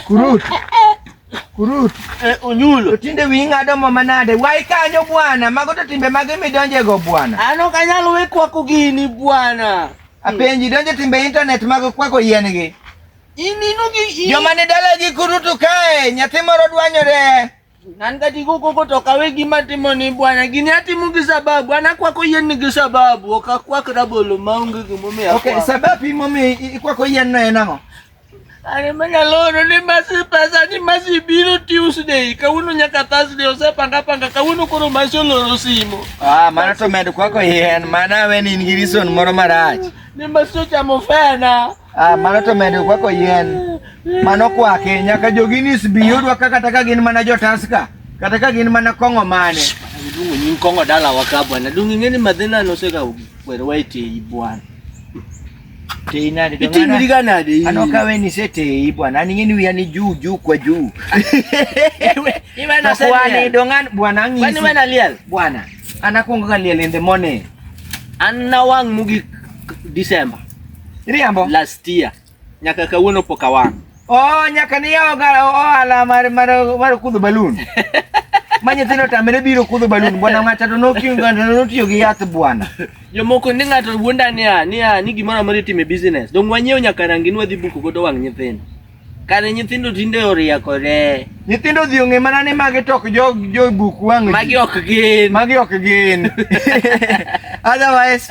Kurut. Kurut. Eh, unyulo. Tinde winga ado mama nade. Wai kanyo bwana. Mago to timbe mage mi donje go bwana. Ano kanyalo we kwa kugini bwana. Apenji donje timbe internet mago kwa ko yien gi. Joma ni dalagi kurutu kae, nyathi moro dwanyore. Nan kati kuko kutoka we gima timo ni bwana gini atimu gi sababu ana kwako yien ni gi sababu ok akwak rabolo maonge gimomiyo akwako. Okay, sababu imomiyo ikwako yien no en ang'o? Are mana loro ni masi pesa ni masi biro Tuesday kawuono nyaka Thursday osepanga panga kawuono koro masi oloro simo. Ah, mana to med kwako yien mana we ni in gi reason moro marach. Ni masi ochamo fena. Ah, mano to medo kwako yien. Mano kwake nyaka jogini sbiyudwa kaka taka gin mana jotaska. Kata ka gin mana kong'o mane. Dungu nyin kong'o dala waka bwana. Dungu ngeni madhina no seka kwere waite i bwana. Tei nade to ngana. Iti gana de. Ano ka weni se tei bwana. Ani ngeni wiya ni juu juu kwa juu. Iwe na sema. Kwani dongan bwana ngisi. Kwani wana lial. Bwana. An akwongo ga liel in the morning. An nawang' mogik December. Iriambo? Last year. Nyaka kawuono pok awang'. Oh, nyaka ni yawo ga ohala mar mar mar kudho balloon. Ma nyithindo tamre biro kudho balloon bwana ng'ata to nokiyo ng'ata notiyo gi yath bwana. Jomoko ni ng'ato wuonda niya niya ni gimoro amora itime business. Dong wanyiew nyaka rangi nwadhi buko godo wang' nyithindo. Kare nyithindo tinde orieko re. Nyithindo odhi ong'e mana ni magi to ok jo jo buk wang'. Magi ok gin. Magi ok gin. Otherwise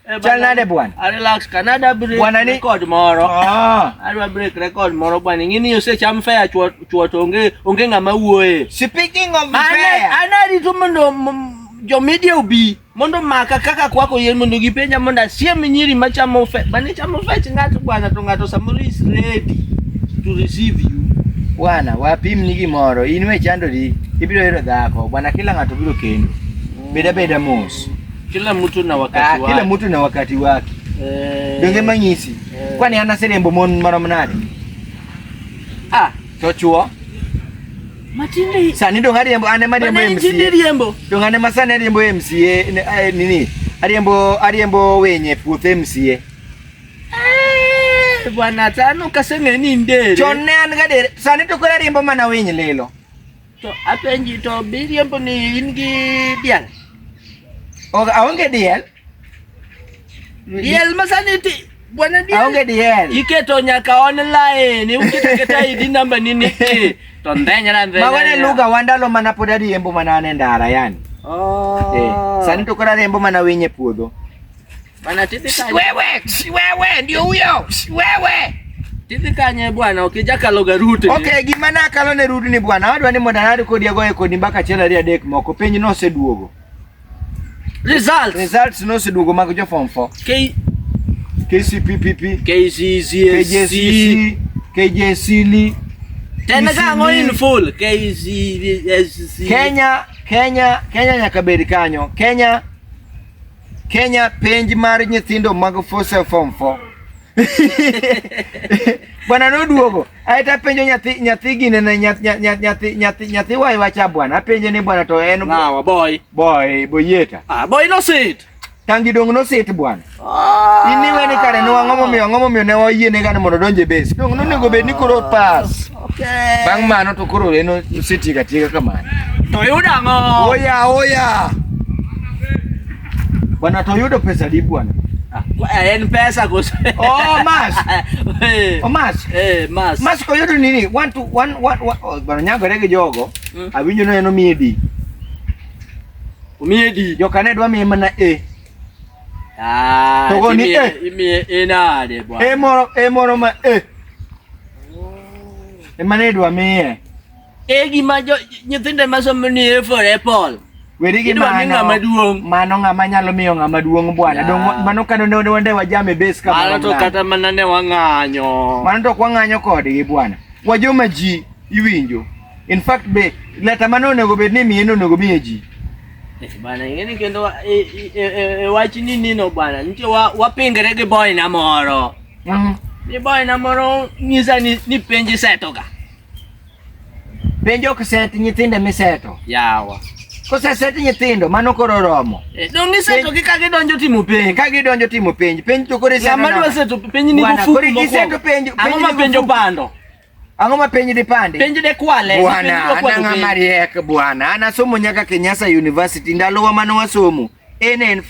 eh, Chal nade bwana? I relax Canada break bwana ni record moro. Ah. Adwa break record moro bwana. Ngini yose cham fair chuo chuo to onge onge ngama wuoye. Speaking of fair. Ana ana rito mondo jo media obi. mondo maka kaka kwako yien mondo gipenja mondo asiem nyiri machamo fe bane chamo fech ng'ato bwana to ng'ato samoro is ready to receive you bwana wapim ni gimoro in we chandori ibiro hero dhako bwana kila ng'ato biro kendo beda beda mos kila mtu na wakati ah, wake kila mtu na wakati wake eh, donge manyisi eh, kwani ana serembo mon marom nade ah to chuo Matinde. Sani dong' ariembo ane mariembo Bana injini MCA. riembo. Dong' ane ma sani ariembo MCA ne- eh, nini? Ariembo ariembo wenye puoth MCA. Eh, Bwana tano kaseng'e ni ndere. Chon ne an gadier, sani to koro ariembo mana winy lilo. To apenji to biriembo ni in gi diel. Ok aonge diel, Diel masaniti bwana diel. Aonge diel. Iketo nyaka online. Ukiteketa ID number nini? Eh, to ndenya na ndenya. Magone lugha wandalo mana pod ariembo mana ane ndara yani. Oh. Eh, sani to kora ariembo mana winye puodho. Bana titi kanye. Wewe, wewe ndio huyo. Wewe. Titi kanye bwana, ukija kaloga rute. Okay, gima na kalo ne rute ni bwana. Wadwa ni modanari kodi agoye kodi mbaka chela ria dek moko. Penyi no seduogo. Results. Results noseduogo mag jo form 4. K KCPPP, KCCSC, KJSC, tena kango in full KCSC. Kenya, Kenya, Kenya nyaka bed kanyo. Kenya Kenya penj mar nyithindo mag force form 4. bwana noduogo aeto apenjo nyathi nyathi gine ne nyathi nyathi nyathi nyathi wai wacha bwana apenje ni bwana to en nawa boy boy boyeta ah boy no sit tangi dong no sit bwana ah. in iwe ni kare no ang'o momiyo ang'o momiyo ne wayie ne gane mondo donje base dong no nego bed ni koro pass okay bang' mano to koro eno sitiga tiga kamano to yuda ang'o oya oya Bwana Toyota pesa di bwana. Ah, eh, ni pesa kwa Oh, mas. Eh. Oh, mas. Eh, mas. Mas kwa yodo nini? One to one one one. Oh, bwana nyango rege jogo. Mm. Abinyo no eno miedi. Umiedi. Jokane dwa mi mana e. Ah, Togo ni e. Imi e na de bwana. E moro e moro ma e. Oh. E mane dwa mi e. e gima nyithinde masomo ni e for apple weri gi mano ng'ama duong' mano ng'ama nyalo miyo ng'ama duong' bwana yeah. dong mano kano ne ne wande wajame base kama mano to kata mana ne wang'anyo mano to kwang'anyo kodgi bwana wajoma ji iwinjo in fact be leta mano onego bed ni miye onego miye ji eh, bana ing'eni kendo e, e, e, e wach ni nino bwana nitie wapingre gi boy na moro mm. ni boy na moro nyisa ni, ni penji setoga Penjo ok set nyithinde miseto. Yawa. Koseset nyithindo mano koro romo. Eh, Dong iseto gi ka gidonjo timo penj. Ka gidonjo timo penj, penj to koro iseto. Sama dwa seto penj ni Bwana, koro bufuku iseto mokwongo. penj. Ang'o ma penjo pando? Ang'o ma penj dipande? Penj de kwale. Bwana, an ang'a mariek bwana. An asomo nyaka Kenyatta University ndalowa mane wasomo. En en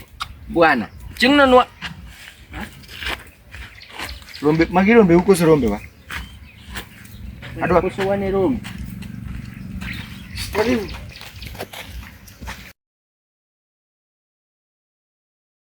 bwana. Ching'no nwa Rombe, magi rombe huko si rombe wa? Adwa koso wane rombe. Karibu.